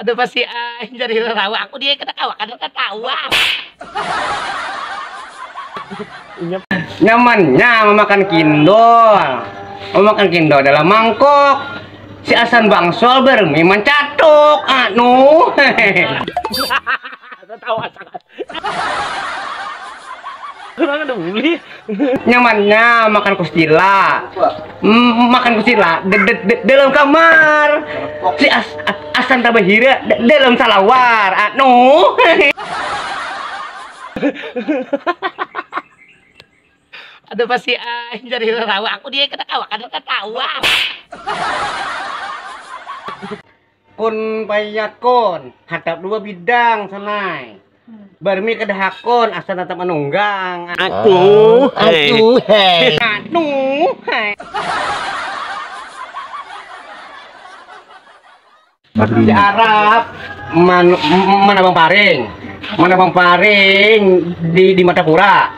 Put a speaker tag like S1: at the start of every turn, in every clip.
S1: Aduh pasti ai jadi lelawa aku dia kada kawa kada tatawa. Nyamannya mamakan kindol, mamakan kindol dalam mangkok, si asan bangsul bermi mancatuk, anuh. Tatawa sangat. Kurang ada uli. Nyamannya makan kusila. Mm, makan kusila de, de, de, dalam kamar. Si as, as, asan tabahira de, dalam salawar. Anu. ada pasti ah jadi rawa aku dia kena kawa kena tawa. Kun paiyak kun, hatap dua bidang sunai. Barmi kada hakun asa natap manunggang. Aku, aku, hei. Anu, hei. Di Arab man, manabang paring, manabang paring di di mata pura.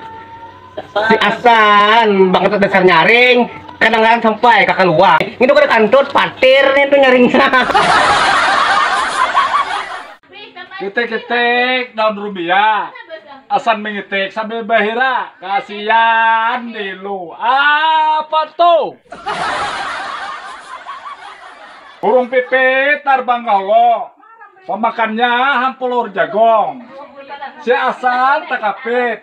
S1: si asan bakal dasar nyaring kadang-kadang sampai kakak luar itu kada kantut patir itu nyaringnya Itik-itik daun rubia, asan mengitik sambil bahira, kasihan dilu, apa tuh? Burung pipit tarbang ka hulu, pamakannya hampulur jagong, si asan takapit,